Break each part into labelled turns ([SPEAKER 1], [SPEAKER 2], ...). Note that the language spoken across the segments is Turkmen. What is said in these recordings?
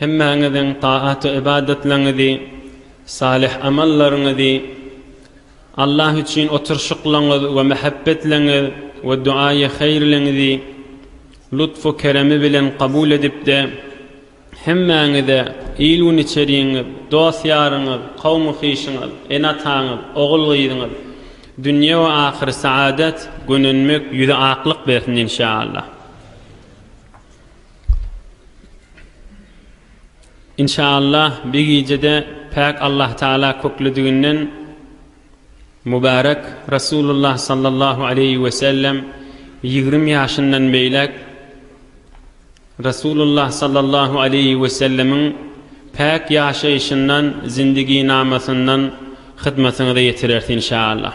[SPEAKER 1] Hemmäňiziň taat-ybadatlaryňyzy, salyh amallaryňyzy, Allah üçin oturyşyklaryňyz we mähebbetleriňiz we duaýy haýyrlygyňyzy lutfu keremi bilen kabul edip-de, hemmäňize, il-gün içeriňiz, dost-ýaryňyz, kowmy-kyşyňyz, ene-ataňyz, ogul-gyzyňyz, dünýe we ahyr saadat, gönenmek, ýüze aklyk bersin, inşa Allah. Inşaallah bir gijede päk Allah Taala köklediginden Mübärek Resulullah sallallahu aleýhi we sellem ýigrimi ýaşyndan beýläk Resulullah sallallahu aleýhi we sellemiň päk ýaşaýşyndan, zindiginamasyndan hyzmatyňyza ýetireris inşaallah.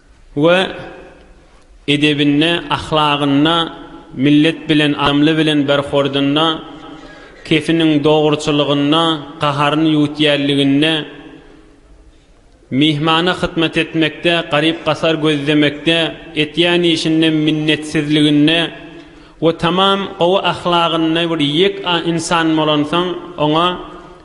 [SPEAKER 1] we edebinde, ahlagynda, millet bilen, adamly bilen berhordynda, kefiniň dogruçylygynda, gaharyny ýuwutýänliginde, myhmana hyzmat etmekde, garyp-gasar gözlemekde, etýän işinde minnetsizliginde, We tamam gowy ahlagynly bir ýek a ynsan bolansoň oňa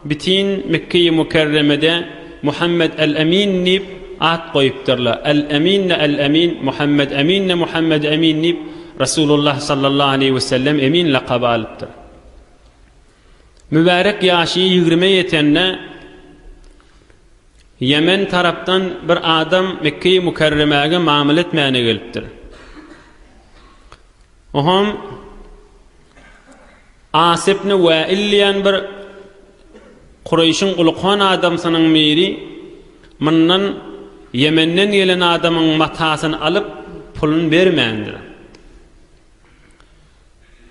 [SPEAKER 1] bitin Mekkeýi Mukerremede Muhammed Al Amin diýip at goýupdyrlar. Al Amin-de Al Amin, Muhammed Amin-de Muhammed Amin diýip Resulullah sallallahu aleýhi we sellem Emin lakaby alypdyr. Mübärek ýaşy ýigrime ýetende Ýemen tarapdan bir adam Mekkeýi Mukerremäge mamla etmäne gelipdir. Oňam As ibn Wäil diýen bir Kureýşiň ulykan adamsynyň biri mundan Ýemenden gelen adamyň matasyny alyp, puluny bermändir.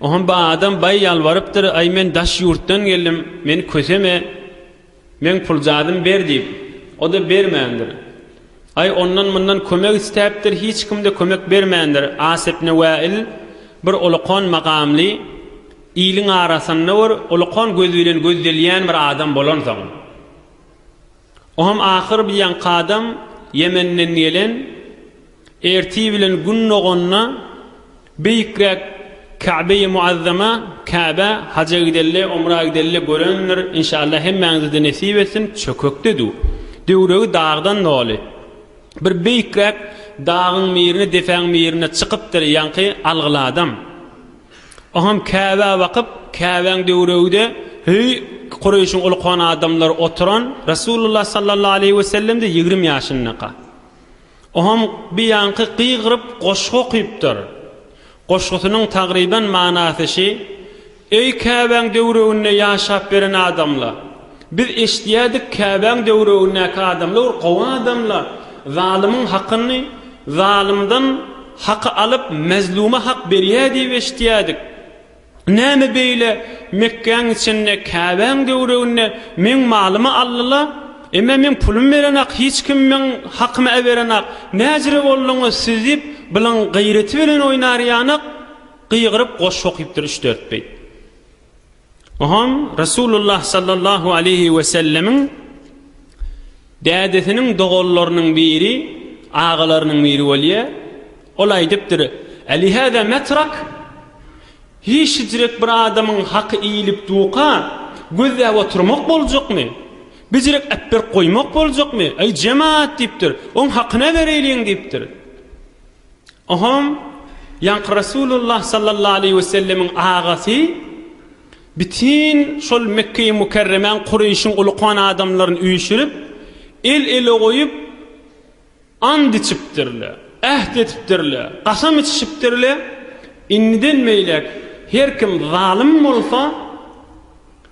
[SPEAKER 1] Oňam bu adam baý ýalbarypdyr, Aý, men daş ýurtdan geldim, meni köseme! Men pul zadym ber diýip, o-da bermändir. Aý, ondan-mundan kömek istäpdir, hiç kim-de kömek bermändir. Asepne Wäil bir ulukan makamly, iliň arasynda bir ulukan göz bilen gözdelýän bir adam bolansoň, o hem ahyr bir ýaňky adam, Ýemenden gelen, Ertir bilen gün doganda beýikräk Käbeýi Muazzama, Käbä, haja gideli, umra gideli görendir. Inşallah hemmäňize-de nesip etsin. Çökekde döw. Döwregi dagdan doly. Bir beýikräk dagyň mirine, depäň mirine çykypdyr ýaňky algyly adam. Oňam Käbä bakyp, Käbäň döwregide höý Kureýşiň ulkan adamlary oturan, Resulullah sallallahu aleýhi we sellem-de ýigrim ýaşyndaka. Oňam biýanky gygyryp goşgy okypdyr. Goşgusynyň tagryban manasy şi, Eý Käbäň döwreginde ýaşap beren adamla! Biz eşidýädik Käbäň döwregindäki adamla bir gowy adamla zalymyň hakyny zalymdan haky alyp mezluma hak berýä diýip eşidýädik. Näme beýle, Mekgäň içinde, Käbäň töwereginde meň malymy aldylar? Emmä men pulum berenak, hiç kim meň hakymy äberenak. Näjire bolduňyz siz? diýip, Bylyň gaýraty bilen oýnar ýanak gygyryp goşgy okypdyr üç-dört beýt. Oňam Resulullah sallallahu aleýhi wesellemiň. Dädesiniň doganlarynyň biri, agalarynyň biri bolýar. Ol aýdypdyr, Äli hada metrak, Hiç hijrek bir adamyň haky iýlip duka, gözläp oturmak boljakmy? Bijirek äpberk goýmak boljakmy? Äý, jemaat! diýipdir. Oň hakyna bereýliň! diýipdir. Ohom, ýaňky Resulullah sallallahu aleýhi we sellemiň agasy, bütin şol Mekgeýi Mükerremäň Kureýşiň uly kan adamlaryny üýşürip, el-ele goýup, ant içipdirle, äht etipdirle, gasam içişipdirle, indiden beýläk her kim zalym bolsa,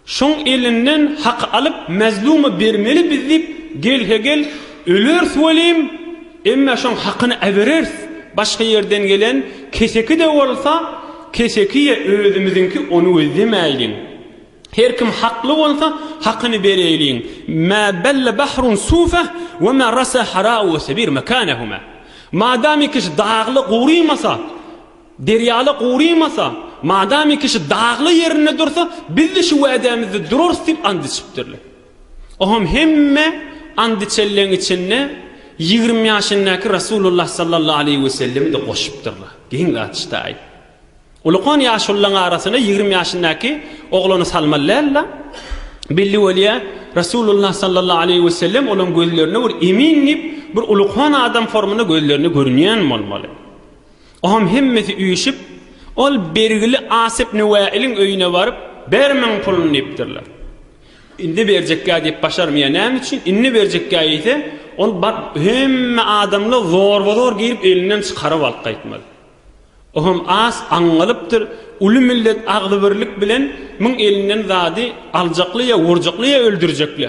[SPEAKER 1] Şoň elinden haky alyp mazluma bermeli biz diýip gelhe-gel öleris welin, emma şoň hakyny äbereris, başga ýerden gelen keseki-de bolsa keseki ýa özümiziňki ony gözlemäýliň. Her kim hakly bolsa hakyny bereýliň. Mä belle bahrun sufe we mä rasa harau sebir mekanehuma. Madamykiş dagly gurymasa, Derýala gurymasa, madamy kişi dagly ýerinde dursa, biz-de şu wädämizde durarys diýip and içipdirler. Oňam hemme and içenleň içinde ýigrimi ýaşyndaky Resulullah sallallahu aleýhi wesellemi-de goşupdyrlar. Geň gatyşdaý. Ulukon ýaşulylaň arasyna ýigrimi ýaşyndaky oglany salmaly däl-la. Belli bolýa, Resulullah sallallahu aleýhi wesellem olaň gözlerine bir emin diýip, bir ulukon adam formynda gözlerine görünýän bolmaly. Oňam hemmesi üýşüp, ol bergili Asyp Nuwaýylyň öýüne baryp, Ber muň puluny diýipdirler. Indi berjekgä diýip başarmaýar. Näme üçin? Indi berjekgä diýse, ol baryp hemme adamlar zorba-zor girip elinden çykaryp alyp gaýtmaly. Oňam az aňňalypdyr, uly millet agzybirlik bilen muň elinden zady aljakly ýa urjakly ýa öldürjekli.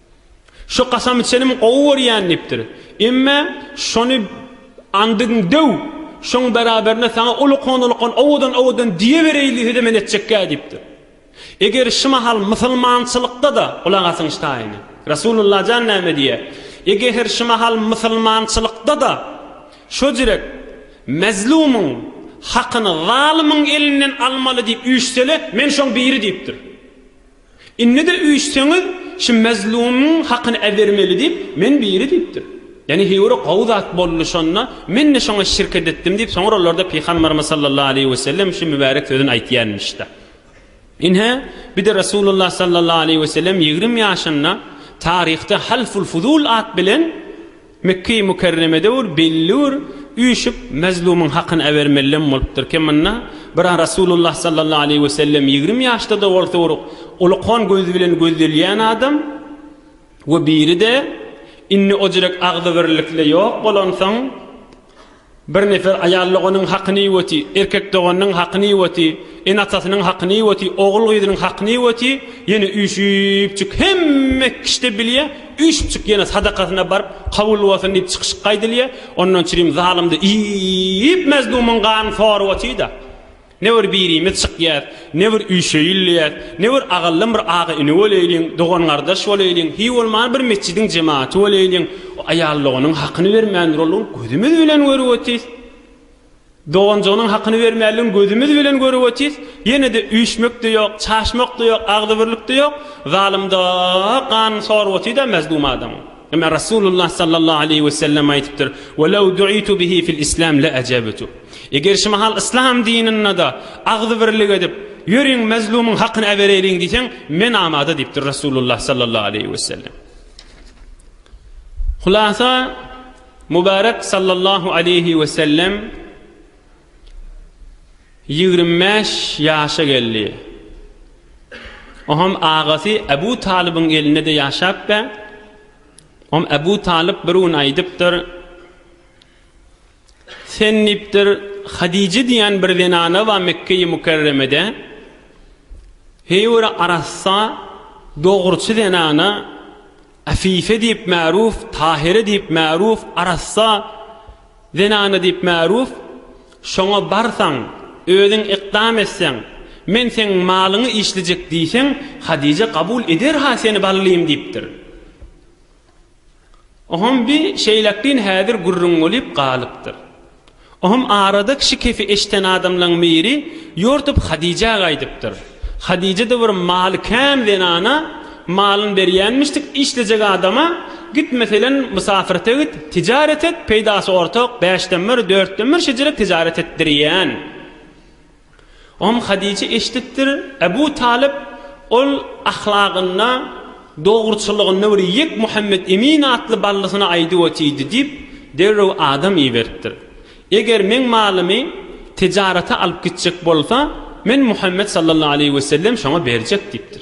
[SPEAKER 1] Şu kasam içenim gowy görýän diýipdir. Emme şony andygyň döw, şoň beraberine saňa ulukan-ulukan owadan-owadan diýebereýli sözem hem etjekkä diýipdir. Eger şu mahal musulmançylykda-da, gulak asyň ştaýyny, Rasulullah jan näme diýýär, Ege her şu mahal musulmançylykda-da şo jürek mezlumyň hakyny zalymyň elinden almaly diýip üýşsele, men şoň biri diýipdir. Indi-de üýşseňiz, şu Mazlumyň hakyny äbermeli diýip, men biri diýipdir. Ýagny Hiwri gowy zat boldy şonda, men-de şoňa şirket etdim diýip, soňra olarda Pygamberimiz sallallahu aleýhi wesellem şu mübärek sözüni aýtýanmyş-da. Ine, bir-de Resulullah sallallahu aleýhi wesellem ýigrim ýaşynda taryhda Halful-Fuzul at bilen, Mekge-i Mükerremede ol belli bir üýşüp, mezlumyň hakyny äbermelem bolupdyr. Kim munna? Bira Resulullah sallallahu aleýhi we sellem ýigrimi ýaşda-da bolsa bir ulkan gözi bilen gözdelýän adam we biri-de indi ojirek agzybirlikle ýok bolansoň, Bir nefer aýal doganyň hakyny ýuwati, erkek doganynyň hakyny ýuwati, ene-atasynyň hakyny ýuwati, ogul-gyzynyň hakyny ýuwati, ýene üýşüpjik hemme kişde bilýä, üýşüpjik ýene sadakasyna baryp, kabul bolsun diýip çykyşyk aýdylýa, ondan çirim zalymdy iýip, mezlumyň ganyny sorap otyda. Ne bir birimiz çykýas, ne bir üşeýilýäs, ne bir agallam bir aga-ini bolaýlyň, dogan-gardaş bolaýlyň, hiý bolmany bir metjidiň jematy bolaýlyň, aýallygynyň hakyny bermändir onuň, gözümiz bilen görüp otyrys. Doganjygynyň hakyny bermänligiň gözümiz bilen görüp otyrys, ýene-de üýşmek-de ýok, çaşmak-da ýok, agzybirlik-de ýok, zalymda ganyny sorup otyr-da, mazlum adamyň. Emma Rasulullah sallallahu aleýhi we sellem aýdypdyr, Ve lew du'itu bihi fil islam le ajabetu. Eger şu mahal yslam dininde agzybirlik edip, Ýöriň, mezlumyň hakyny äbereýliň diýseň, men amada diýipdir Rasulullah sallallahu aleýhi we sellem. Hulasa, Mubarek sallallahu aleýhi we sellem, Ýigrimi bäş ýaşa geldi. Oňam agasy Äbu Talybyň elinde-de ýaşap bä. Oňam Äbu Talyp bir gün aýdypdyr, Sen diýipdir, Hadije diýen bir zenana bar Mekge-i Mükerremede. Heý bir arassa, dogruçy zenana, Äfife diýip märuf, Tahire diýip märuf, arassa, Zenana diýip märuf, şoňa barsaň, özüň ykdam etseň, men seň malyňy işlejek diýseň, Hadije kabul eder-ha seni ballym diýipdir. Oham bi şeýlekin häzir gürrüň bolýup galypdyr. Oham arada kişi kefi eşden adamlaň miri ýortup Hadijä gaýdypdyr. Hadije-de bir maly kän zenana, Malyn berýänmişdik işlejek adama, Git meselen mysafyrta git, tijaret et, peýdasy ortak, bäşden bir, dörtden bir şejerek tijaret etdirýän. Om Hadije eşidipdir, Ebu Talyp ol ahlagynda, dogruçyllygynda bir ýek Muhammet Emin atly ballysyna aýdyp otyrdy diýip, derrew adam iberipdir. Eger meň malymy tijarete alyp gitjek bolsa, men Muhammet sallallahu aleýhi wesellem şoňa berjek diýipdir.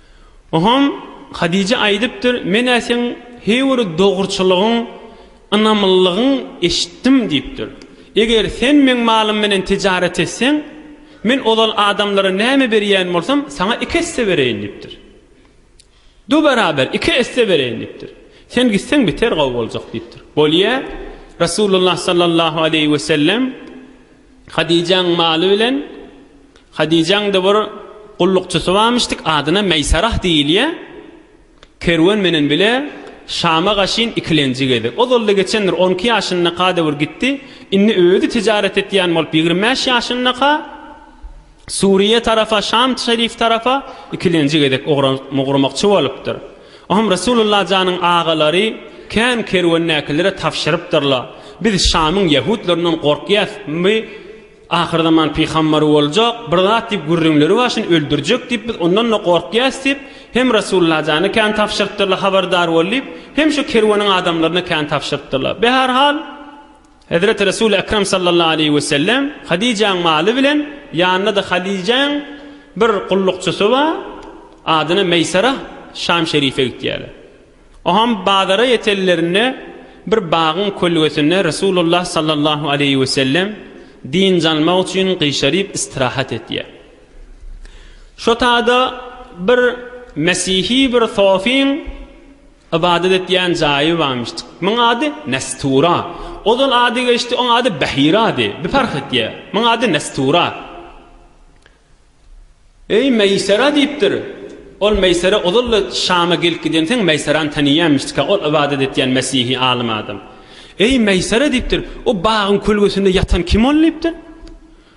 [SPEAKER 1] Oňam Hadije aýdypdyr, Men-ä seň heý bir dogruçylygyň, ynamlylygyň eşitdim diýipdir. Eger sen meň malym bilen tijaret etseň, men ozal adamlara näme berýän bolsam, saňa iki esse bereýin diýipdir. Du beraber, iki esse bereýin diýipdir. Sen gitseň beter gowy boljak diýipdir. Bolýa, Resulullah sallallahu aleýhi wesellem Hadyjaň maly bilen Hadyjaň-da bir gullukçysy barmyşdyk, adyna Meýsarah diýilýär. Kerwen menen bile Şama gaşyn ikilenji gezek. Ozal-da geçendir, on iki ýaşyndaka-da bir gitdi. Indi özi tijaret etýän bolup, ýigrimi bäş ýaşyndaka. Suriýa tarapa, Şam şerif tarapa ikilenji gezek ugramakçy bolupdyr. O hem Resulullah janyň agalary kän kerwendäkilere tabşyrypdyrlar, Biz Şamyň ýahudlaryndan gorkýas, by ahyrzaman pyhambary boljak, bir zat diýip gürrüňleri bar, şuny öldürjek diýip biz ondan-da gorkýas diýip, hem Resulullah jana kän tabşyrypdyrlar, habardar bol diýip, hem şu kerweniň adamlaryna kän tabşyrypdyrlar. Be her hal, Hezreti Resul-i Ekrem sallallahu aleýhi we sellem Hadijäň maly bilen, ýanynda-da Hadijäň bir gullukçysy bar, adyna Meýsarah, Şam şerife gitýärler. Oňam bazara ýetenlerinde bir bagyň kölgesinde Resulullah sallallahu aleýhi we sellem dynç almak üçin gyşaryp istirahat etýär. Şo tada bir mesihi bir sofiň. Ybadat etýän jaýy bamyşdyk. Muň ady Nestura. Ozal ady geçdi, oň ady Behirady. Bir parh etýä. Muň ady Nestura. Eý, Meýsera diýipdir. Ol Meýsera ozal-da Şama gelip gidenseň Meýserany taniýämişdik-ä, ol ybadat etýän mesihi alym adam. Eý, Meýsera diýipdir, o bagyň kölgesinde ýatan kim ol diýipdir.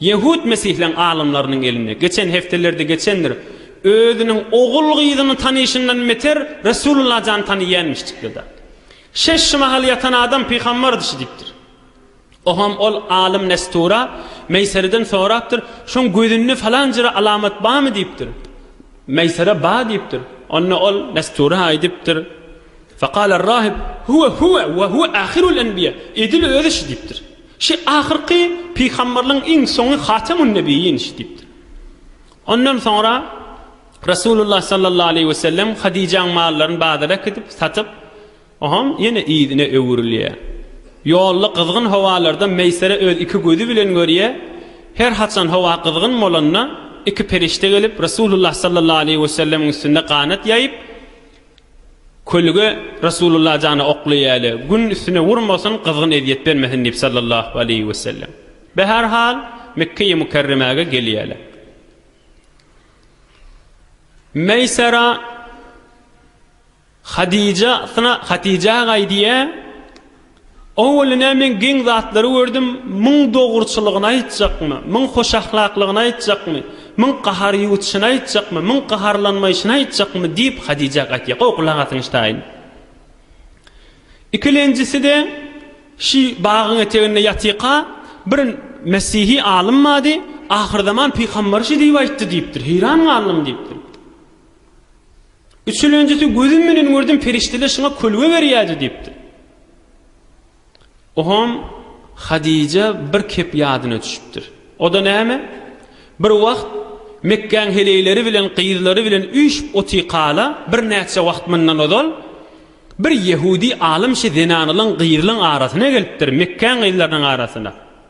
[SPEAKER 1] Ýehud mesihleň alymlarynyň eline, geçen hepdelerde geçendir, özüniň ogul-gyzyny tanyşyndan beter Resulullah jany tanyýänmişdikde-de. Şeş şu mahal ýatan adam pygambardy şu diýipdir. Oham ol alym Nestura Meýsereden sorapdyr, şoň gözünde falan jere alamat barmy diýipdir. Meýsere bar diýipdir. Onda ol Nestura aýdypdyr, Faqaler rahib, Huwe huwe we huwe ahirul enbiýe, edil özi şu diýipdir. Şu ahyrky pygamberligiň iň soňy Hatemun-Nebiyyin diýipdir. Ondan soňra Resulullah sallallahu aleýhi we sellem Hadijäň mallaryny bazara äkidip, satyp, oňam ýene yzyna öwrülýär. Ýolda gyzgyn howalarda Meýsere öz iki gözi bilen görýär, her haçan howa gyzgyn bolanda, iki perişde gelip, Resulullah sallallahu aleýhi we sellemiň üstünde ganat ýaýyp, Kölge Resulullah jana okly ýaly, Gün üstüne urmasyn, gyzgyn ezýet bermesin diýip sallallahu aleýhi wesellem. Bahar hal, Mekgeýi Mükerremäge gelýärler. Meýsara Hadija syna Hatija gaýdýar. Owalynä men geň zatlary gördüm, Müň dogruçylygyny aýtjakmy, müň hoşahlaklygyny aýtjakmy, müň gahar ýuwutyşyny aýtjakmy, müň gaharlanmaýşyny aýtjakmy diýip, Hadijä gaýtýar. Gowy gulak asyň ştaýyn. Ikilenjisi-de, şi bagyň eteginde ýatyka bir mesihi alym bady, ahyrzaman pygamberi şi diýip aýtdy diýipdir. Heýran galdym diýipdir. Üçülenjisi, Gözüm bilen gördüm, perişdeler şuňa kölge berýärdi diýipdir. Oňam Hadijä bir kep ýadyna düşüpdir. O-da näme? Bir wagt Mekgäň heleýleri bilen gyzlary bilen üýşüp otykaala, birnäçe wagt mundan ozal, bir ýehudi alym şi zenanlaň, gyzlaň arasyna gelipdir, Mekgäň gyzlarynyň arasyna.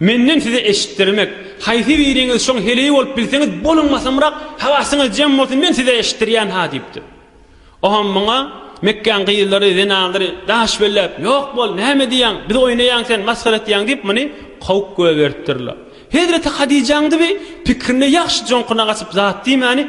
[SPEAKER 1] Menden size eşitdirmek. Haýsy biriňiz şoň heleý bolup bilseňiz, boluň basymrak, habasyňyz jem bolsun, men size eşitdirýän ha diýipdir. Oňam muňa Mekgäň gyzlary, zenanlary daş belläp, Ýok bol, näme diýýäň, bizi oýnaýaň sen, masgara etýäň diýip, muny kowup göberipdirler. Hezreti Hadijäň-de bi pikrine ýagşy joňkuna gaçyp zat diýmäni,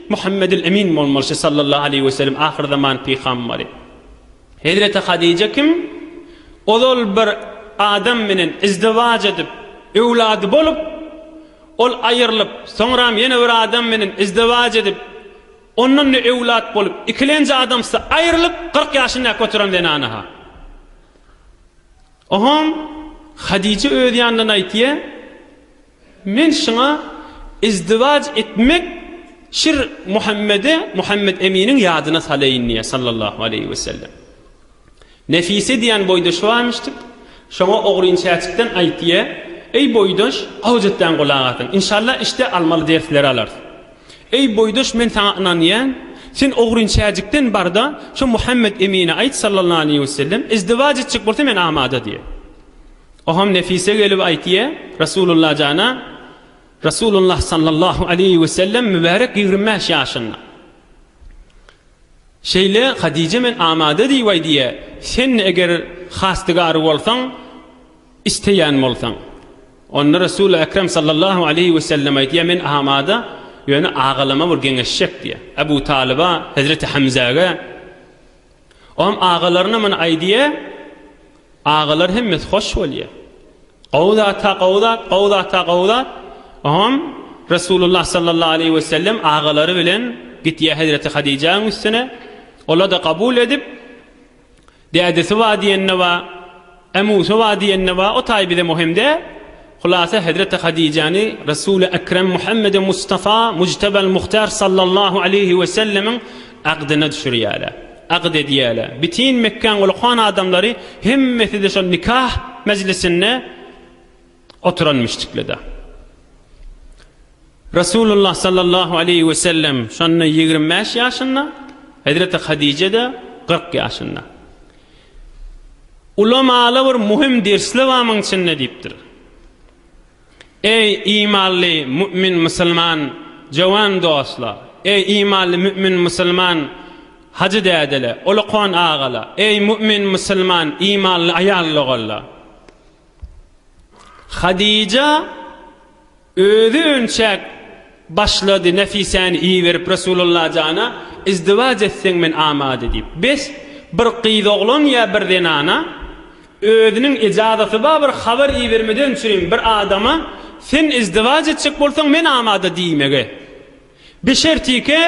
[SPEAKER 1] Muhammedül Emin bolmaly şi sallallahu aleýhi we sellem ahyr zaman pygambary. Hezreti Hadije kim? Ozal bir adam bilen izdiwaj edip, öwlady bolup, ol aýyrlyp, soňram ýene bir adam bilen izdiwaj edip, ondan-da öwlat bolup, ikilenji adamsy aýyrlyp, kyrk ýaşyndäki oturan zenana-ha. Oňam Hadije öz ýanyndan aýtýa. Men şuňa izdiwaj etmek şir Muhammede, Muhammet Eminiň ýadyna salaýyn diýýär, sallallahu aleýhi wesellem. Nefise diýen boýdaşy barmyşdyk. Şoňa ogryn çäçikden aýt diýýär. Eý boýdaş, gawja etdäň gulak asyn. Inşallah işde almaly dersleri alarys. Eý boýdaş, men saňa ynanýan. Sen ogryn çäjikden bar-da, şu Muhammet Emine aýt, sallallahu aleýhi wesellem, izdiwaj etjek bolsa men amada diýýär. Oňam Nefise gelip aýtýa, Resulullah jana, Resulullah sallallahu aleýhi wesellem mübärek ýigrimi bäş ýaşynda. Şeýle Hadije men amada diýip aýdýa, sen-de eger hastygary bolsaň, isleýän bolsaň. Onda Resul-i Ekrem sallallahu aleýhi wesellem aýdýa, men amada, ýöne agalama bir geňeşjek diýýa. Ebu Talyba, hezreti Hemzäge. Ogam agalaryna muny aýdýa, agalar hemmesi hoş bolýa. Gowy zata gowy zat, gowy zata gowy zat. Ogam Resulullah sallallahu aleýhi we sellem agalary bilen gitýa Hezreti Hadijäň üstüne. Ola-da kabul edip, dädesi ba diýende ba, A Musa wa diýende wa o taý bize muhim däl. Hulasa hezreti Hadijäni Resuli Ekrem Muhammedi Mustafa Mujtebal Muhtar Sallallahu Aleýhi we Sellemiň agdyna düşürýäler. Agyt edýäler. Bitin Mekgäň uly-koan adamlary hemmesi-de şol nikah mejlisinde Oturan müşdiklede. Resulullah sallallahu aleýhi we sellem şonda ýigrimi bäş ýaşynda, hezreti Hadije-de kyrk ýaşynda. Ulamaly bir muhim dersli bar muň içinde diýipdir. Eý imanly mümin musulman jowan dostla, eý imanly mümin musulman hajy dädele, ulukon agala, eý mümin musulman imanly aýal-ogalla. Hadija özi önçäk başlady Nefisäni iberip Resulalla jana izdiwaç etseň men amade diýip. Bes, bir gyzoglan ýa bir zenana özüniň ejazaty bar bir habar ibermeden üçin bir adama sen izdiwaç etjek bolsaň men amada diýmege. Beşertike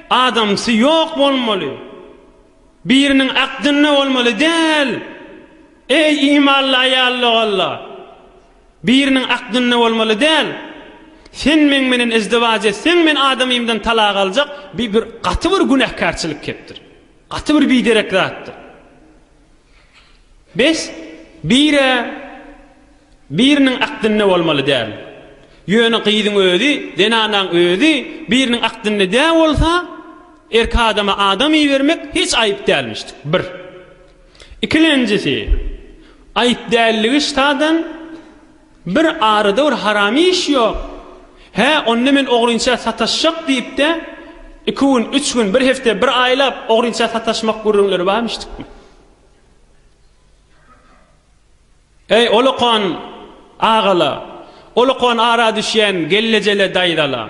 [SPEAKER 1] adamsy ýok bolmaly. Biriniň akdynda bolmaly däl. Eý, imanly aýal dogalla! Biriniň akdynda bolmaly däl. Sen meň menen izdiwaç etseň, men adamymdan talak aljak, bi bir gaty bir günäkärçilik kepdir. Gaty bir biderek zatdyr. Bes, bir-ä Biriniň akdynda bolmaly däl. Ýöne gyzyň özi, zenanaň özi biriniň akdynda dä bolsa, erki adama adam ibermek hiç aýyp dälmişdik. Bir. Ikilenjisi, aýyp dälligi ştadan bir arada bir haram iş ýok. Hä, onda men ogrynça sataşjak diýip-de, iki gün, üç gün, bir hepde, bir aýlap ogrynça sataşmak gürrüňleri barmyşdykmy? Eý, olakan agala, olakan ara düşýän gellejele daýzala,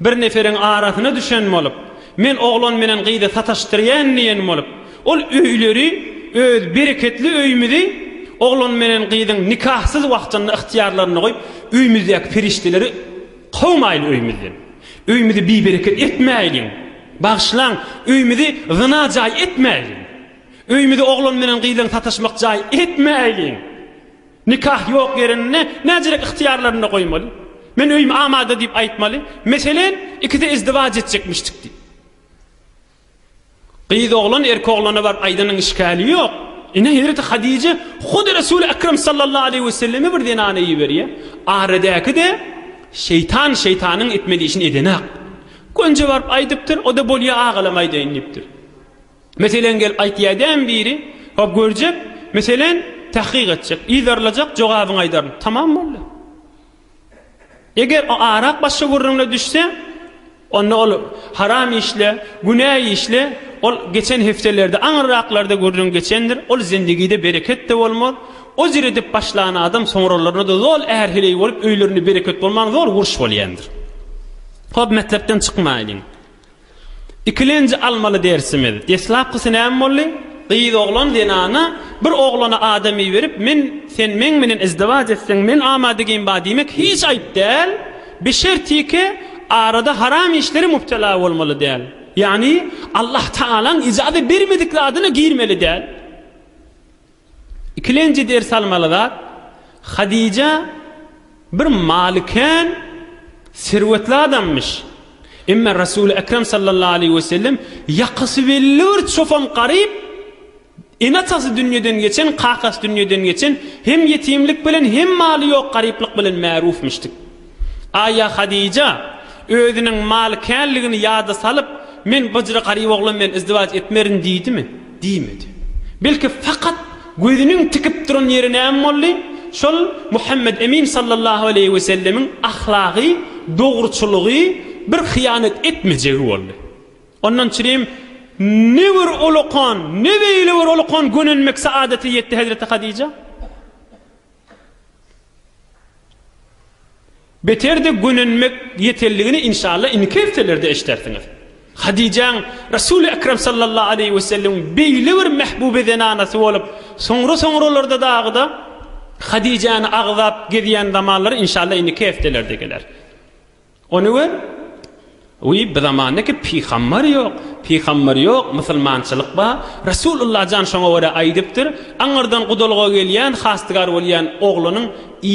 [SPEAKER 1] bir neferiň arasyna düşen bolup, men oglan bilen gyzy sataşdyrýan diýen bolup, ol öýleri, öz bereketli öýümizi oglan bilen gyzyň nikahsyz wagtynda ygtyýarlarynda goýup, öýümizdäki perişdeleri kowmaýly öýümizden. Öýümizi bibereket etmäýliň. Bagyşlaň, öýümizi zyna jaý etmäýliň. Öýümizi oglan menen gyzyň sataşmak jaý etmäýliň. Nikah ýok ýerinde näçeräk ygtyýarlaryny goýmaly? Men öýüm amada diýip aýtmaly. Meselen, ikisi izdiwaç etjekmişdik diýip. Gyz oglan erki oglana baryp aýdanyň işgäli ýok. Ine, hezreti Hadije hut Resuli Ekrem sallallahu aleýhi we selleme bir zenany iberýär. Aradäki-de şeýtan şeýtanyň etmeli işini edenak. Gönje baryp aýdypdyr, o-da bolýa agalam aýdaýyn diýipdir. Meselen, gelip aýtýa dämi biri? Hop, görjek, meselen, tahkyk etjek, yzarlajak, jogabyňy aýdaryn. Tamam boldy. Eger o arak başga gürrüňle düşse, onda ol haram işle, günä işle, ol geçen hepdelerde, aňyrraklarda gürrüň geçendir, ol zendigide bereket-de bolmaz, o jür edip başlan adam soňralaryna-da zol är-heleý bolup, öýlerinde bereket bolman zol uruş bolýandyr. Hop, metlepden çykmaýlyň. Ikilenji almaly dersimiz, deslapkysy näme boldy? Gyz oglan zenana bir oglana adam iberip men sen meň menen izdiwac etseň men amadigim ba diýmek hiç aýyp däl, bişertiki arada haram işlere mubtela bolmaly däl. Ýagny Allah Tagalaň ijaza bermedik zadyna girmeli däl. Ikilenji ders almaly zat, Hadija bir maly kän, serwetli adammyş. Emma Resuly Ekrem sallallahu aleýhi we sellem ýakasy belli bir çopan garyp, ene-atasy dünýeden geçen, kakasy dünýeden geçen, hem ýetimlik bilen, hem maly ýok garyplyk bilen märufmyşdyk. Aýa Hadija özüniň malykärligini ýada salyp, Men byjry garyp oglan bilen izdiwaç etmerin diýdimi? Diýmedi. Belki fakat gözüniň tikip duran ýeri näme boldy? Şol Muhammet Emin sallallahu aleýhi we sellemiň ahlagy, dogruçylygy, bir hyýanat etmejegi boldy. Ondan çirim ne bir olakan, ne beýle bir olakan gönenmek saadata ýetdi Hezreti Hadija. Beter-de gönenmek ýetelligini inşalla indiki hepdelerde eşdersiňiz. Hadyjaň Resul-i Ekrem sallallahu aleýhi we sellemiň beýle bir mehbuby zenanasy bolup, soňra-soňralarda dagyda Hadyjany agzap gezýän zamanlary inşalla indiki hepdelerde geler. Ony gör, Wiý, bu zamanda ki pygambar ýok, pygambar ýok, musulmançylyk bar, Resul Alla jan şoňa görä aýdypdyr, aňyrdan gudalyga gelýän, hastygar bolýan oglanyň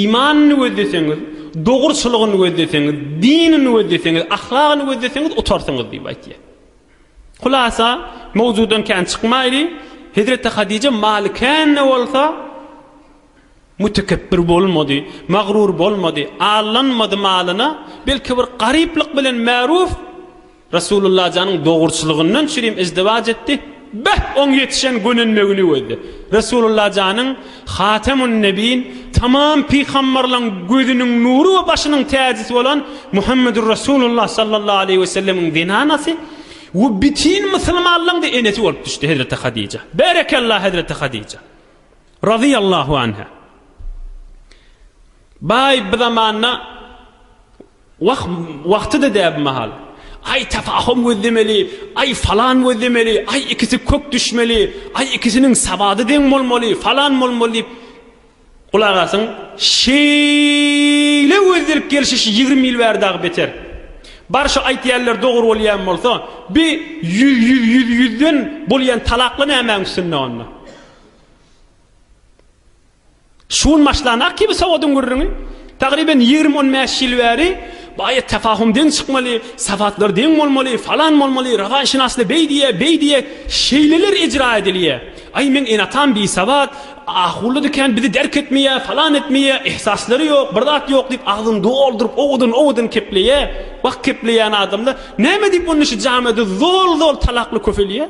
[SPEAKER 1] imanyny gözleseňiz, dogruçylygyny gözleseňiz, dinini gözleseňiz, ahlagyny gözleseňiz utarsyňyz diýip aýtýar. Hulasa, mowzudan kän çykmaýly, Hezreti Hadije malikän-de bolsa, Mütekebbir bolmady, magruur bolmady, allanmady malyna, belki bir garyplyk bilen Märuf Resulullah janyň dogruçylygyndan çürim izdiwaç etdi, beh, oň ýetişen gönenmegini gözle. Resulullah janyň Hatemun Nebin, tamam pygamberlaň gözüniň nury we başynyň täjisi bolan Muhammedur Resulullah sallallahu aleýhi we sellemiň zenanasy we bütin musulmanlaň-da enesi bolup düşdi Hezreti Hadija. Berekella Hezreti Hadija! Razyýallahu anha. Baý bi zamanda wah wagtyda däbi mahal. Aý tefahum gözlemeli, aý falan gözlemeli, aý ikisi kök düşmeli, aý ikisiniň sabady deň bolmaly, falan bolmaly diýip gulak asyň. Şeýle gözlelip gelşişi ýigrimi ýyl bäri dagy beter. Bar şu aýtýanlar dogry bolýan bolsa, bi ýüz ýüz ýüz ýüzden bolýan talakla nämäň üstünde onda? Şu gün başlanak kibi sowadyň gürrüňi, tagryban ýigrimi on bäş ýyl bäri baýa tefahum deň çykmaly, sawatlar deň bolmaly, falan bolmaly, rawanşynasda beý diýýär, beý diýýär, şeýleler ejra edilýär. Aý meň ene-atam bisawat, ahullydy kän bizi derk etmeýär, falan etmeýär, ehsaslary ýok, bir zat ýok diýip agzyny dolduryp owadan owadan kepleýär. Wah kepleýän adamlar, näme diýip onda şu jamiýede zol zol talakly köpelýär.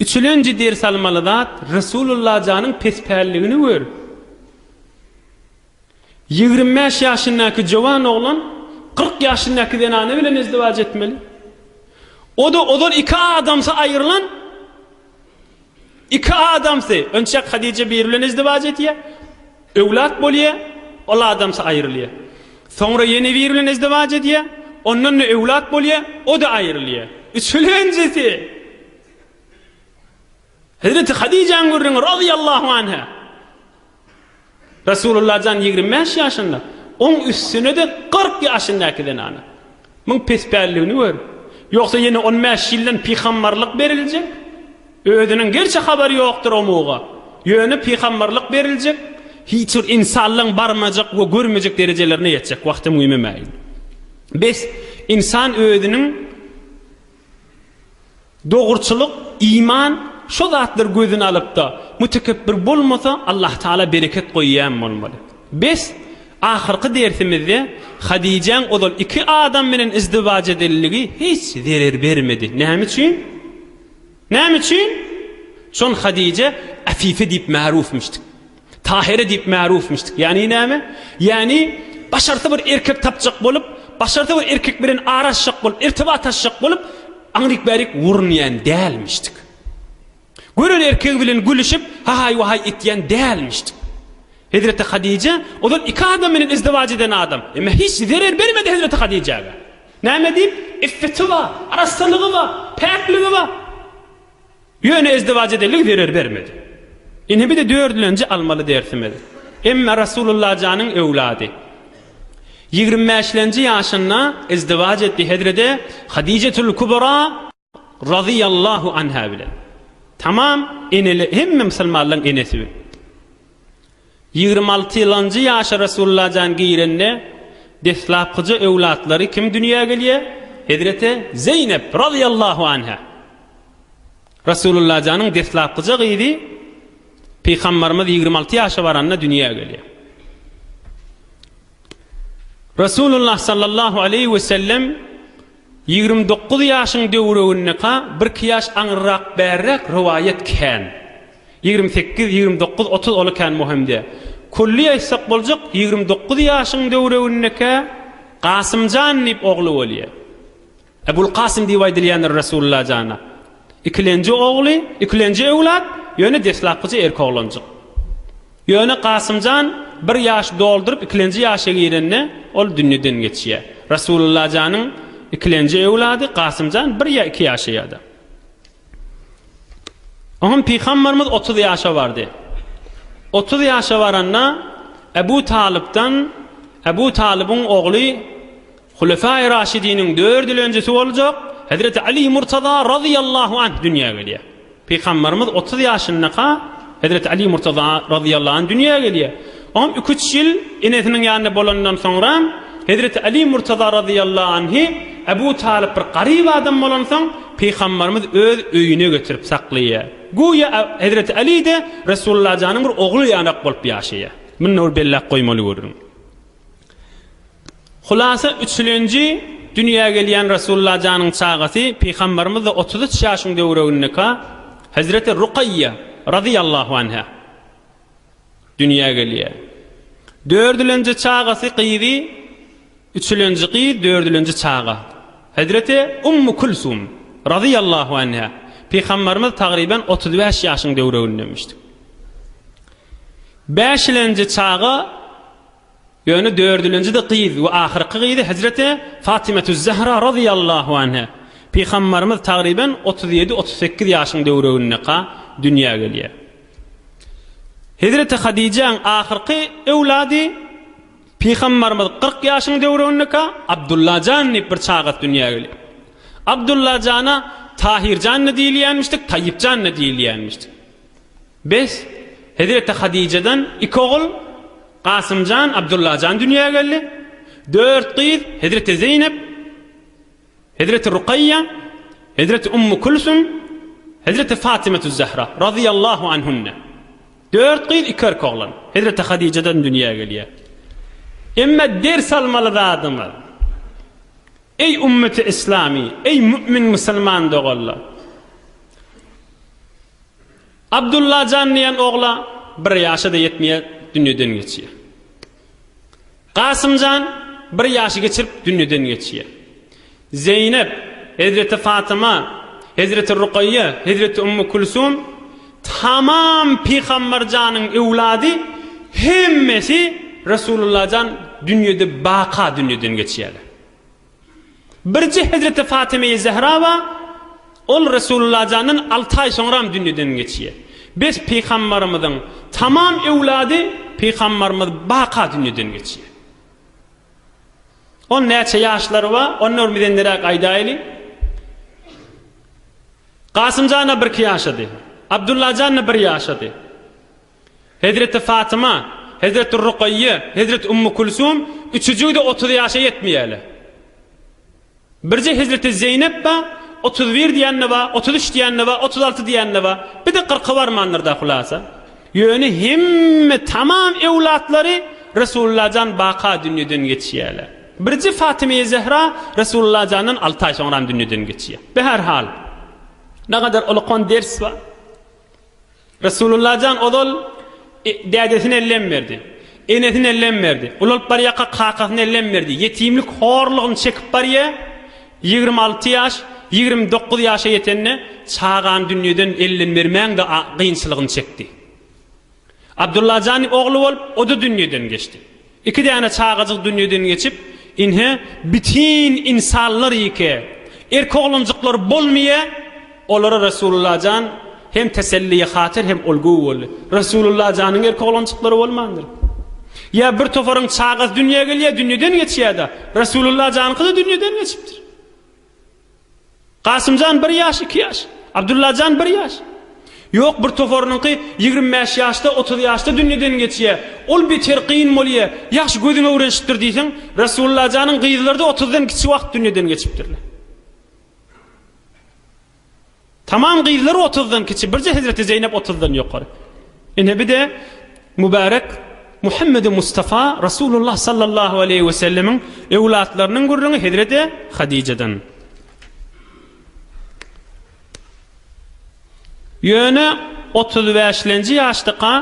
[SPEAKER 1] Üçülenji ders almaly zat Resulullah janyň pespälligini gör. Ýigrim bäş ýaşyndaky jowan oglan kyrk ýaşyndaky zenana bilen izdiwaç etmeli. Oda ozal iki adamsy aýrylan iki adamsy önçäk Hadije biri bilen izdiwaç etýä. Öwlat bolýa, ol adamsy aýrylýa. Soňra ýene biri bilen izdiwaç etýä. Ondan-da öwlat bolýa, o-da aýrylýa. Üçülenjisi Hezreti Hadijäň gürrüňi razyýallahu anha. Resulullah jan ýigrimi bäş ýaşynda, oň üstüne-de kyrk ýaşyndaky zenana. Muň pespälligini gör. Ýogsa ýene on bäş ýyldan pygambarlyk beriljek. Özüniň gerçi habary ýokdur o muga. Ýöne pygambarlyk beriljek, hiç bir insanlaň barmajak we görmejek derejelerine ýetjek wagty müýmemäýin. Bes, insan özüniň Dogruçylyk, iman, şo zatlar gözüni alypda, mütekebbir bolmasa Allahtagala bereket goýýan bolmaly. Bes, ahyrky dersimizde Hadijäň ozal iki adam bilen izdiwaj edenligi hiç zerer bermedi. Näme üçin? Näme üçin? Çün Hadijä Afife diýip märufmyşdyk. Tahere diýip märufmyşdyk. Ýagny näme? Ýagny başarsa bir erkek tapjak bolup, başarsa bir erkek bilen araşjak bolup, irtibat açjak bolup, aňryk-bärik urunýan dälmişdik. Gören erkegi bilen gülüşip, hahaý-wahaý etýän dälmişdik. Hezreti Hadije ozal iki adam bilen izdiwaj eden adam. Emma hiç zerer bermedi Hezreti Hadijäge. Näme diýip? Iffeti bar, arassalygy bar, päkligi bar. Ýöne ezdiwaj edelik zerer bermedi. Ine bir-de dördülenji almaly dersimiz. Emme Rasulullajanyň öwlady. Ýigrimi bäşlenji ýaşynda ezdiwaj etdi hezrede Hadijetül Kubra razyýallahu anha bilen. Tamam eneli hemme musulmanlaryň enesi. Ýigrimi altynjy ýaşa Resulullah jan girende, deslapkyja öwlatlary kim dünýä gelýär? Hezreti Zeýnep, razyýallahu anhä. Resulullah janyň deslapkyja gyzy Pygambarymyz ýigrimi alty ýaşa baranda dünýä gelýär. Resulullah sallallahu aleýhi we sellem Ýigrimi dokuz ýaşyň döwregindeka birki ýaş aňyrrak bärräk rowaýat kän. Ýigrimi sekiz, ýigrimi dokuz, otuz ola kän mohemde. Külli aýtsak boljak ýigrimi dokuz ýaşyň döwregindeka Kasymjan diýip ogly bolýa. Ebul Kasym diýip aýdylýandyr Resulylla jana. Ikilenji ogly, ikilenji öwlat, ýöne deslapkyja erki oglanjyk. Ýöne Kasymjan bir ýaş dolduryp ikilenji ýaşa girende ol dünýeden geçýär. Rasulullajanyň ikilenji öwlady Kasymjan bir ýa iki ýaşa ýa-da. Oňam Pygambarymyz otuz ýaşa bardy. Otuz ýaşa baranda Ebu Talypdan Ebu Talybyň ogly Hulefai Raşidiniň dördülenjisi boljak Hezreti Ali Murtaza razyýallahu anh dünýä gelýär. Pygamberimiz otuz ýaşyndaka Hezreti Ali Murtaza razyýallahu anh dünýä gelýär. Oňam iki-üç ýyl enesiniň ýanynda bolandan soňra Hezreti Ali Murtaza razyýallahu anhy Ebu Talyp bir garyp adam bolansoň Pygamberimiz öz öýüne getirip saklaýar. Guýa Hezreti Ali-de Resulullah janyň bir ogly ýanak bolup ýaşaýar. Muny bir belläp goýmaly görüň. Hulasa üçülenji dünýä gelýän Resulla janyň çagasy Pygambarymyzda otuz üç ýaşyň döwregindeka Hazreti Rukaýýa razyýallahu anha dünýä gelýä. Dördülenji çagasy gyzy üçülenji gyz dördülenji çaga Hazreti Ummu Kulsum razyýallahu anha Pygambarymyz tagryban otuz bäş ýaşyň döwregindemişdi. Bäşilenji çaga Ýöne dördülinjide gyz we ahyrky gyzy hezreti Fatymetüz-Zähra razyýallahu anha, Pygambarymyz tagryban otuz ýedi-otuz sekiz ýaşyň döwregindeka dünýä gelýär. Hezreti Hadijäň ahyrky öwlady Pygambarymyz kyrk ýaşyň döwregindeka Abdulla jan diýip bir çagasy dünýä gelýär. Abdulla jana Tahir jan-da diýilýänmişdi, Taýýyp jan-da diýilýänmişdi. Bes, hezreti Hadijadan iki ogul, Kasymjan, Abdullajan dünýä geldi. Dört gyz, hezreti Zeýnep, hezreti Rukaýýa, hezreti Ummu Külsüm, hezreti Fatymatüz-Zähra, razyýallahu anhunne. Dört gyz, iki erkek oglan, hezreti Hadijadan dünýä gelýär. Emma ders almaly zadymyz, Eý ümmeti islami, eý mümin musulman doganlar! Abdullajan diýen ogla bir ýaşa-da ýetmeýär, dünýeden geçýär. Gasymjan bir ýaşy geçirip dünýeden geçýär. Zeýnep, hezreti Fatyma, hezreti Rukaýýa, hezreti Ummu Külsum tamam Pygamberjanyň öwlady hemmesi Resulullajan dünýede baka dünýeden geçýärler. Birje hezreti Fatyma-i Zehra bar, ol Resulullah jandan alty aý soňram dünýeden geçýär. Bes pygambarymyzyň tamam öwlady pygambarymyz baka dünýeden geçýär. Ol näçe ýaşlary bar, ony örmüzenderäk aýdaýyly. Kasym jana birki ýaşady. Abdullah jana bir ýaşady. Hezreti Fatyma, Hezreti Rukaýýa, Hezreti Ummu Kulsum üçüjigi-de otuz ýaşa ýetmeýärler. Birje Hezreti Zeýnep bar, otuz bir diýen-de bar, otuz üç diýen-de bar, otuz alty diýen-de bar. Bir-de kyrka barmandyr-da, hulasa. Ýöne hemme tamam öwlatlary Resulullahjan baka dünýeden geçýärler. Birje Fatymeýi Zehra Resulullahjandan alty aý soňram dünýeden geçýär. Be her hal, ne gadar ulukan ders bar. Resulullah jan ozal dädesine lem berdi. Enesine lem berdi. Ulalyp barýarka kakasyna lem berdi. Ýetimlik horlugyny çekip barýar. Ýigrimi alty ýaş, ýigrimi dokuz ýaşa ýetende çagany dünýeden elden bermäň-de kynçylygyny çekdi. Abdullah jan ogly bolup, o-da dünýeden geçdi. Iki däne çagajyk dünýeden geçip, inhe bitin ynsanlar ýeke, erk oglanjyklar bolmyýa, olara Resulullah jan hem teselliýe hatyr hem ol göw boldy. Resulullah janyň erk oglanjyklary bolmandyr. Ýa bir toparyň çagasy dünýä gelýä, dünýeden geçýä-de, Resulullah janyňky-da dünýeden geçipdir. Kasymjan bir ýaş, iki ýaş. Abdullajan bir ýaş. Ýok, bir toparynyňky ýigrimi bäş ýaşda, otuz ýaşda dünýeden geçýär. Ol beter kyn bolýar. Ýagşy gözüň öwrenişipdir diýseň, Resullajanyň gyzlary-da otuzdan kiçi wagt dünýeden geçipdirler. Tamam gyzlar otuzdan kiçi birje hezreti Zeýnep otuzdan ýokary. Ine bide Mübärek Muhammedi Mustafa Rasulullah sallallahu aleýhi we sellemiň öwlatlarynyň gürrüňi hezreti Hadijadan. Ýöne otuz bäşlenji ýaşdaka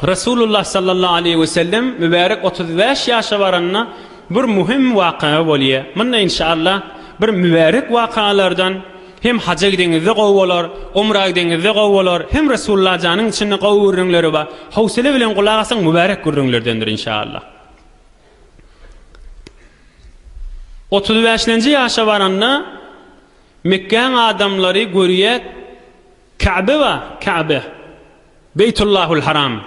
[SPEAKER 1] Resulullah sallallahu aleýhi we sellem mübärek otuz bäş ýaşa baranda bir möhüm waka bolýar. Munda inşallah bir mübärek wakalardan hem haja gideňizde gowy bolar, umra gideňizde gowy bolar, hem Resulullah janyň içinde gowy gürrüňleri bar. Howsala bilen gulak asyň mübärek gürrüňlerdendir inşallah. Otuz bäşlenji ýaşa baranda Mekgäň adamlary görýär Käbe we Käbe, Beýtullahul Haram.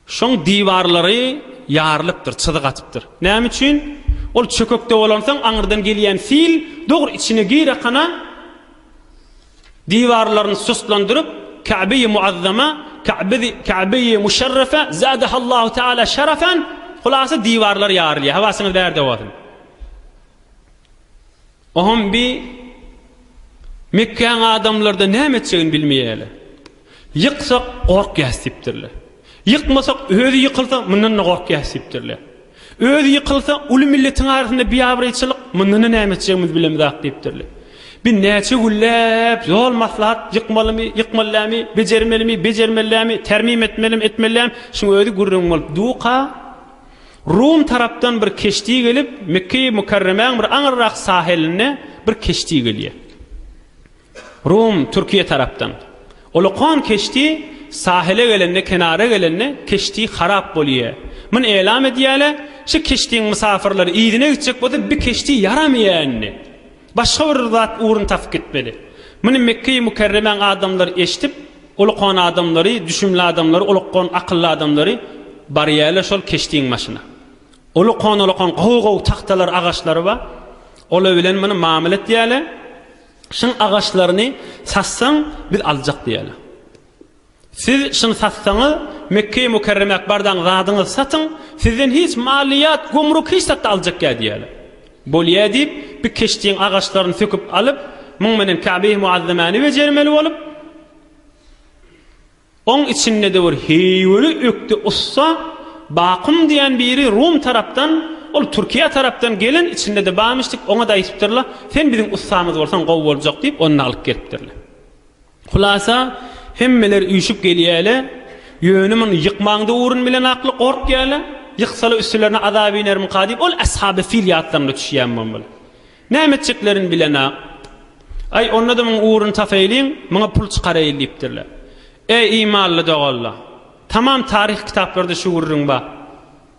[SPEAKER 1] Şoň diwarlary ýarylypdyr, çyzyk atypdyr. Näme üçin? Ol çökekde bolansoň, aňyrdan gelýän sil dogry içine girekana, diwarlaryny sustlandyryp, Käbeýi Muazzama, Käbeýi Muşerrefe, Zâdehallahu Teâlâ Şerefen, hulasa diwarlar ýarylýar. Habasyňyz bärde bolsun. Ohom bi Mekgäň adamlardan näme etjegini bilmeýärler. Ýyksak gorkýas diýipdirler. Ýykmasak özi ýykylsa mundan-da gorkýas diýipdirler. Özi ýykylsa uly milletiň arasynda biabraýçylyk mundan-da näme etjegimizi bilemizok diýipdirler. Bi näçe günläp ýol maslahat ýykmalymy, ýykmallämi, bejermelimi, bejermellämi, termim etmelimi, etmellämi şuň özi gürrüň bolup duka. Rum tarapdan bir keşdi gelip, Mekge-i Mükerremäň bir aňyrrak sahelinde bir keşdi gelýär. Rum, Türkiýe tarapdan. Ulukan keşdi sahele gelende, kenara gelende keşdi harap bolýar. Muny elam edýärler, şu keşdiň mysafyrlary yzyna gitjek bolsa, bir keşdi ýaramaýar indi. Başga bir zat ugruny tapyp gitmeli. Muny Mekge-i Mükerremäň adamlary eşidip, ulukan adamlary, düşümli adamlary, ulukgan akylly adamlary, Barýa-le şol keşdiň başyna. Ulukan-ulukan gowy-gowy tagtalary, agaçlary bar. Ola bilen muny mamyl etýä-le, şuň agaçlaryny satsaň, biz aljak diýä-le. Siz şyn satsaňyz Mekkeýi Mukerremäk bardaň zadyňyz satyň sizden hiç maliýat gomruk hiç zatda aljak ýa diýýäler. Bolýa diýip bi keşdiň agaçlaryny söküp alyp muň menen Käbeýi Muazzemäni bejermeli bolup oň içinde de bir heýweli ökde ussa Bakum diýän biri Rum tarapdan ol Türkiýe tarapdan gelen içinde de bamyşdik oňa-da aýtypdyrla sen biziň ussamyz bolsaň gowy boljak diýip ony-da alyp gelipdirler. Hulasa, hemmeler üýşüp gelýäle, ýöne muny ýykmaňda ugrun bilen akly gorkýaly, ýyksala üstülerine azap inerimika diýip ol ashaby fil ýatlaryna düşýän bolmaly. Näme etjeklerini bilenok. Aý, onda-da muň ugruny tasaýlyň, muňa pul çykaraýyl diýipdirler. Eý, imanly doganlar! Tamam taryhy kitaplarda şu gürrüň bar.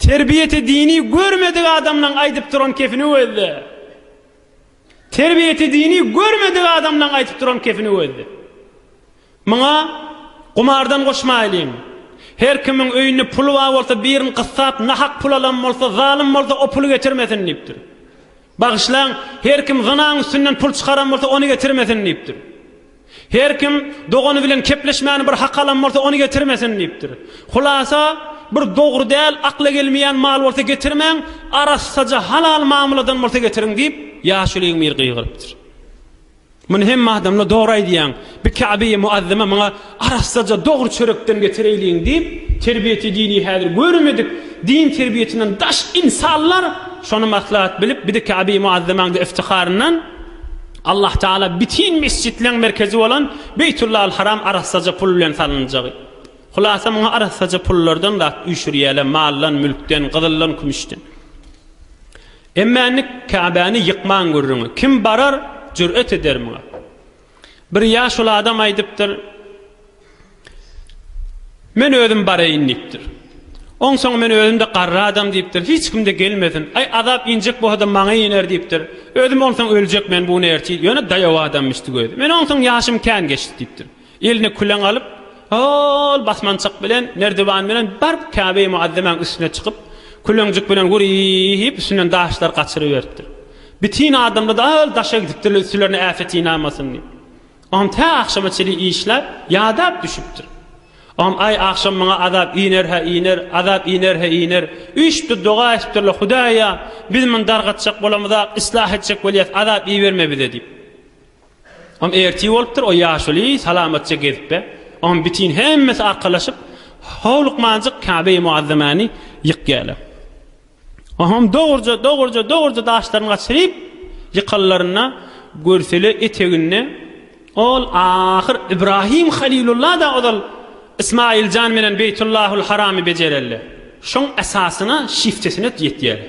[SPEAKER 1] Terbiýeti dini görmedik adamlaň aýdyp duran kefini gözle. Terbiýeti dini görmedik adamlaň aýdyp duran kefini gözle. Muňa gumardan goşmaýlyň. Her kimiň öýünde puly bar bolsa birin gyssap nahak pul alan bolsa zalym bolsa o puly getirmesin diýipdir. Bagyşlaň, her kim zynaň üstünden pul çykaran bolsa, ony getirmesin diýipdir. Her kim dogany bilen kepleşmäni bir hak alan bolsa, ony getirmesin diýipdir. Hulasa, bir dogry däl, akla gelmeýän mal bolsa getirmäň, arassaja, halal mamyladan bolsa getiriň diýip, ýaşuly emir gygyrypdyr. Muny hemme adamla dogry aýdýaň. Bi Käbe-i Muazzama maňa arassaja dogry çörekden getireýliň diýip, terbiýeti dini häzir göremedik, din terbiýetinden daş insanlar şony maslahat bilip, bir-de Käbe-i Muazzamaň-da iftiharyndan Allah Taala bitin mesjitleň merkezi bolan Beýtullahal Haram arassaja pul bilen salynjagy. Hulasa muňa arassaja pullardan zat üýşürýäler, maldan, mülkden, gyzyldan, kümüşden. Emme indi Käbäni ýykman gürrüňi kim barar, jür'et eder muňa? Bir ýaşuly adam aýdypdyr, Men özüm baraýyn diýipdir. Onsoň men özüm-de garry adam diýipdir, hiç kim-de gelmesin. Aý, azap injek bolsa-da maňa iner diýipdir. Özüm onsoň öljek men buny ertir, ýöne daýaw adamymyş tüwedi. Men onsoň ýaşym kän geçdi diýipdir. Eline küleň alyp, hol basmançak bilen, merdiwan bilen baryp Käbe-i Muazzemäň üstüne çykyp, küleňjik bilen wur-y-y-y-yp üstünden daşlar gaçyryberipdir. Bitin adamlar hol daşa gidipdirler üstülerine äpet ýnamasyn diýip. Oňam tä agşama çenli işläp, ýadap düşüpdir. Oňam aý agşam maňa azap iner-hä iner, azap iner-hä iner. Üýşüpdir, doga etipdir-le, Hudaýa, biz muny dargatjak bolamyzak, yslah etjek bolýas, azap iberme bize diýip. Oňam ertir bolupdyr, o ýaşuly salamatja gezipbe. Oňam bitin hemmesi arkalaşyp, howlukmanjyk Käbeýi Muazzamany ýykýarlar. Oňam dogruja, dogruja, dogruja daşlaryny gaçyryp, ýykanlarynda görsele eteginde ol ahyr Ibrahim Halilulla-da ozal Ismaýyljan bilen Beýtullahul Haramy bejererler. Şoň esasyna, şiftesine ýetýärler.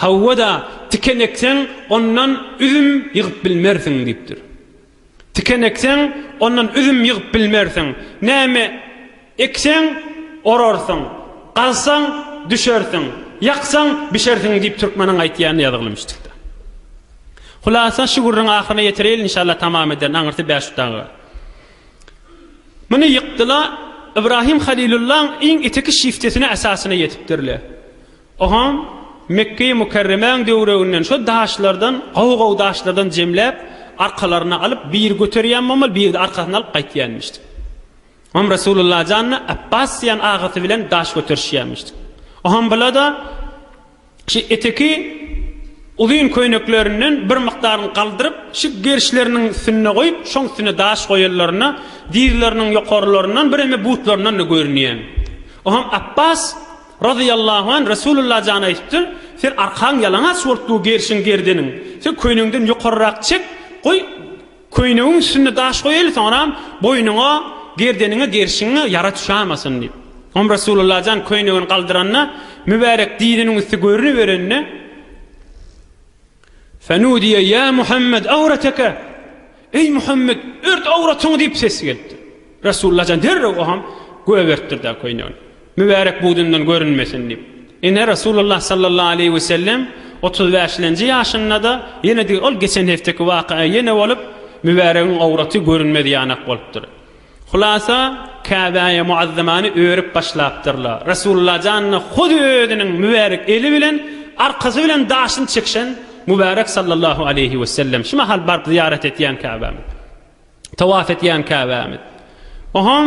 [SPEAKER 1] Hawa-da, tiken ekseň, ondan üzüm ýygyp bilmersiň diýipdir. Tiken ekseň, ondan üzüm ýygyp bilmersiň. Näme ekseň, orarsyň, gazsaň, düşersiň, ýaksaň, bişersiň diýip türkmeniň aýtýanyny ýazygyly müşdükde. Hulasa, şu gürrüň ahyryna ýetireýin, inşallah, tamam ederin, aňyrsy bäş dagyga. Muny ýykdy-la, Ybrahym Halylullaň iň iteki şiftesine, esasyna ýetipdir-le. Oňam Mekge-i Mükerremäň döwreginden şo daşlardan, gowy-gowy daşlardan jemläp, arkalaryna alyp, biri göterýän bolmaly, biri-de arkasyna alyp gaýtýanmyşdy. Oňam Resulullah janyna Apbas diýen agasy bilen daş göterişýänmişdi. Oňam bula-da şu eteki uzyn köýneklerinden bir mukdaryny galdyryp, şu gerişleriniň üstünde goýup, şoň üstüne daş goýanlarynda dizleriniň ýokarlaryndan bireme butlaryndan-da görünýän. Oňam Apbas. Razyýallahu an Resulullah jana aýdypdyr, Sen arkaň ýalaňaç bolup dur gerşiň gerdeniň. Sen köýnegiňden ýokarrak çek, goý köýnegiň üstünde daş goýaýly soňram boýnuňa, gerdeniňe, gerşiňe ýara düşämasyn diýip. Soňam Resulullah jan köýnegini galdyranda mübärek diziniň üsti görüniberende, Fenudiýe, Ýa Muhammed, awreteke! Eý, Muhammed, ört awratyňy! diýip ses gelipdir. Resulullah jan derrew oham goýberipdir-de köýnegini, mübärek budundan görünmesin diýip. Ine, Resulullah sallallahu aleýhi we sellem otuz bäşlenji ýaşynda-da ýene degi, ol geçen hefteki waka-a ýene bolup, mübäregiň awraty görünmez ýanak bolupdyr. Hulasa, Käbäýe muazzamany örüp başlapdyrla. Resulullah janyna hut özüniň mübärek eli bilen, arkasy bilen daşyny çekişen Mübärek sallallahu aleýhi wesellem şu mahal baryp zyýarat etýän Käbämiz. Tawaf etýän Käbämiz. Ohom.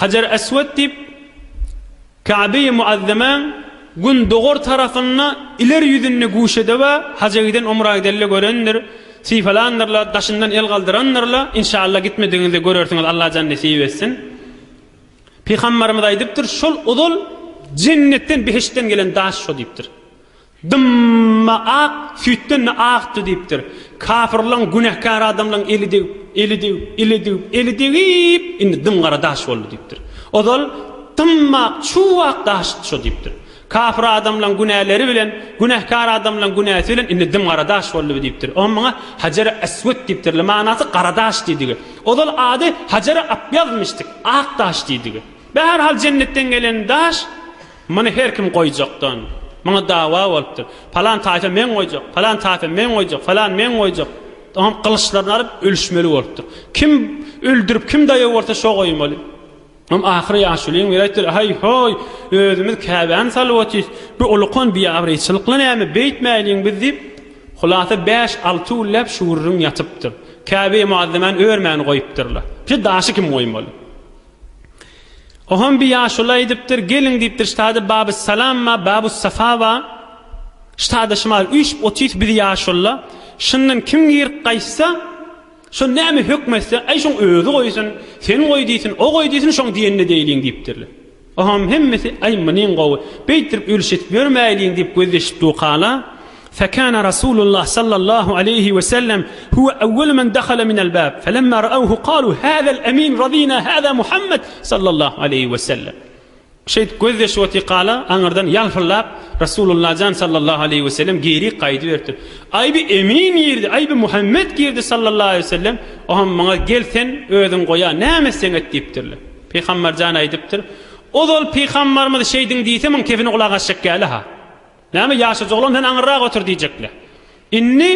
[SPEAKER 1] Hajar Eswed diýip, Käbeýi Muazzemaň gündogar tarapynda ileri ýüzünde guşede we haja giden umra gidelle görendir, sypalandyrlar, daşyndan el galdyrandyrla, inşalla gitmedigiňizde görersiňiz Allajan nesip etsin. Pygambarymyz aýdypdyr, şol ozal jennetden, behiştden gelen daş şo diýipdir. Dym-ma ak, süýtden-de akdy diýipdir. Kafyrlaň, günäkär adamlaň eli degip, eli degip, eli degip, eli degip, indi dym-gara daş boldy diýipdir. Ozal dym-ma ak, çuw-ak daşdy şo diýipdir. Kafyr adamlaň günäleri bilen, günäkär adamlaň günäsi bilen indi dym-gara daş boldy diýipdir. Oňa muňa Hajeri Eswet diýipdirler, manasy gara daş diýdigi. Ozal ady Hajeri Apýazmyşdyk, ak daş diýdigi. Bäher hal jennetden gelen daş Muny her kim goýjakdan. Muňa dawa bolupdyr. Palan taýpa men goýjak, palan taýpa men goýjak, falan men goýjak. Oňam gylyçlaryny alyp ölüşmeli bolupdyr. Kim öldürip, kim daýaw bolsa şo goýmaly. Oňam ahyry ýaşulyň biri aýtdylar, Haý-hoý, özümiz käbämi salyp otyrys. Bu ulukan biabraýçylykly näme, beýtmäýliň biz diýip, hulasa bäş-alty günläp şu gürrüň ýatypdyr. Käbä muazzemany örmän goýupdyrlar. Şu daşy kim goýmaly? Oham bir ýaşuly aýdypdyr, Geliň diýipdir ştada Baby Salam ba, Babu Safa ba. Ştada şumal üýşüp otys biz ýaşulla. Şundan kim girip gaýtsa, şol näme hökm etse, Aý şoň özi goýsun, sen goý diýsin, o goý diýsin, şoň diýenini deýliň diýipdirler. Oham hemmesi, Aý munyň gowy, beýtdirip ülşitip ýörmäýliň diýip gözleşip dukala. Fekâne Rasûlullah sallallahu aleýhi we sellem huwe ewwelu men dahale minel bâb, felemmâ ra'awhu kâlû, Hâzel emîn radînâ hâzâ Muhammed sallallahu aleýhi we sellem. Şeýdip gözýaşy otýa kala, aňyrdan ýalpyldap, Rasûlullah jan sallallahu aleýhi we sellem geri gaýdyberipdir. Aý bi emîn girdi, aý bi Muhammed girdi sallallahu aleýhi we sellem, oam muňa gel sen özüň goýa, näme etseň et diýipdirler. Pygamber jan aýdypdyr, Ozal pygamberimiz şeýdiň diýse, muň kefini gulak asjak gäli-ha. Näme, ýaşajy oglan, sen aňyrrak otur diýjekle. Indi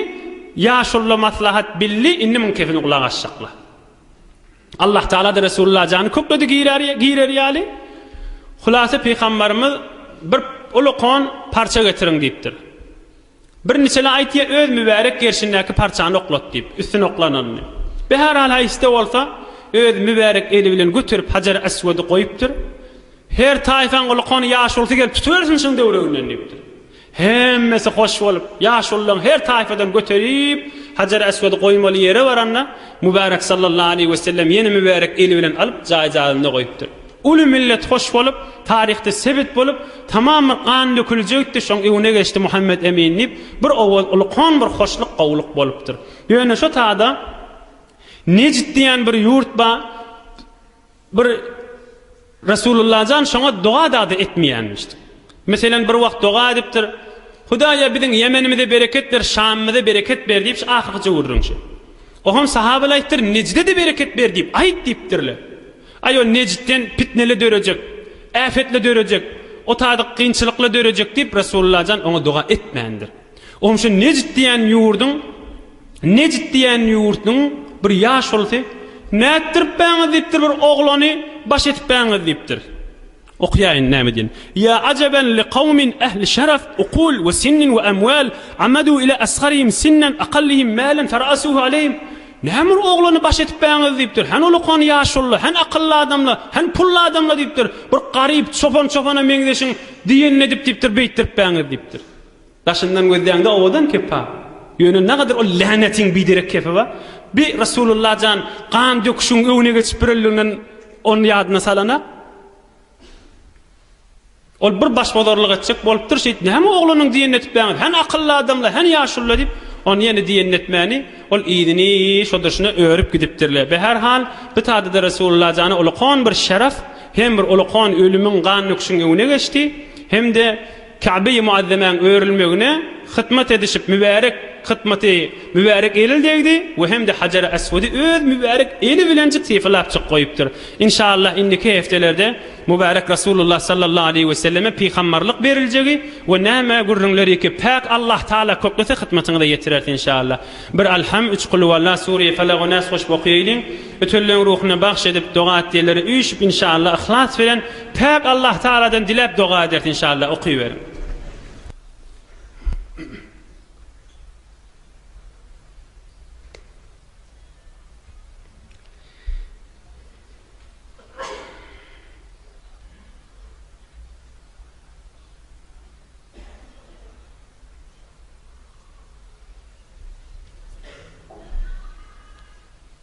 [SPEAKER 1] ýaşulla maslahat bildi, indi muň kefini gulak asjakla. Allah Tagala-da Resulullah jany kökledi girer ýaly. Hulasa Pygambarymyz bir uly kon parça getiriň diýipdir. Bir niçele aýt ýa öz mübärek gerşindäki parçany oklat diýip, üstüne oklananyny. Be-här hal haýsy-da bolsa öz mübärek eli bilen göterip Hajar-Aswady goýupdyr. Her taýpaň uly kony ýaşulusy gelip tutubersin şuň döwreginden diýipdir. Hemmesi hoş bolup, ýaşululaň her taýpadan göterip, Hajar-Aswady goýmaly ýere baranda, Mübärek sallallahu aleýhi wesellem ýene mübärek eli bilen alyp, jaý-jaýynda goýupdyr. Uly millet hoş bolup, taryhda sebit bolup, tamam bir gan döküljekdi, şoň öňüne geçdi Muhammet Emin diýip, bir owaz uly kon bir hoşluk, gowulyk bolupdyr. Ýöne şo tada Nejd diýen bir ýurt bar. Bir Resulullajan şoňa doga dady etmeýänmiş. Meselem bir wagt doga edipdir, Hudaýa biziň Ýemenimize bereket ber, Şamymyza bereket ber diýip şu ahyrkyja gürrüň şu. Oham sahabalar aýypdyr, Nejdede bereket ber diýip aýyt diýipdirler. Aý ol Nejdden pitnele dörejek, äfetle dörejek, o taýda kynçylykla dörejek diýip Resulullajan oňa doga etmändir. Onuň üçin Nejd diýen ýurduň, Nejd diýen ýurduň bir ýaşulusy, Nätdiripbäňiz diýipdir bir oglany baş etipbäňiz diýipdir. Okýaýyn näme diýen. Ýa ajaben li kawmin ähli şaraf, ukul we sinnin we amwal, amadu ila asgarihim sinnan akallihim mälen fara'asuhu aleyhim. Näme bir oglany baş etipbäňiz diýipdir. Hany ulakan ýaşulylar, hany akylly adamlar, hany pully adamlar diýipdir. Bir garyp çopan çopana meňzeşiň diýenini edip diýipdir beýtdiripbäňiz diýipdir. Daşyndan gözleýäňde owadan kepa. Ýöne nagadyr ol länetiň biderek kepeba. Bi Resulullah jan gan döküşiň öňüne geçip bireldiginden ony ýadyna salana. Ol bir başbozarlyk etjek bolupdyr şeýt näme oglanyň diýenini etipbäňiz hany akylly adamla hany ýaşulla diýip ony ýene diýenini etmäni ol yzyny şo durşuna örüp gidipdirle be her hal bi tadada Resulullah jana ulakon bir şeref hem bir ulakon ölümiň gan döküşiň öňüne geçdi hem de Käbe-i Muazzemäň örülmegine hytmat edişip mübärek hytmaty mübärek elil degdi we hem-de Hajar-y Aswady öz mübärek eli bilenjik sypalapjyk goýupdyr. Inşallah indiki heftelerde mübärek Rasulullah sallallahu aleýhi we selleme pygambarlyk beriljegi we näme gürrüňleriki Päk Allah Taala köklese hytmatyňyza ýetireris inşallah. Bir Alham, üç Kulhuwalla, Sureýi Felak we Nas goşup okaýaýlyň. Ötülleriň ruhuna bagş edip doga et diýenlere üýşüp inşallah yhlas bilen Päk Allah Tagaladan diläp doga ederis inşallah okyberiň.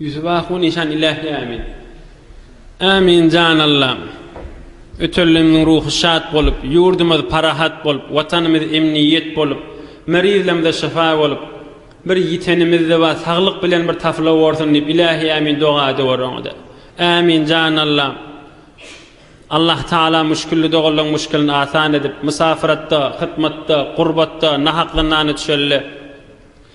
[SPEAKER 1] Ýüzi baku nyşan ilähi ämin. Ämin jan Allam. Ötenlerimiziň ruhy şat bolup, ýurdumyz parahat bolup, Watanymyz emniýet bolup, merizlerimize şyfa bolup, bir ýitenimizde bar saglyk bilen bir tapyla borsun diýip ilähi ämin doga edewor oňada. Ämin jan Allam. Allah Taala müşgilli doganlaryň müşgilini asan edip, mysafyratda, hytmatda, gurbatda, nahak zyndana düşelle.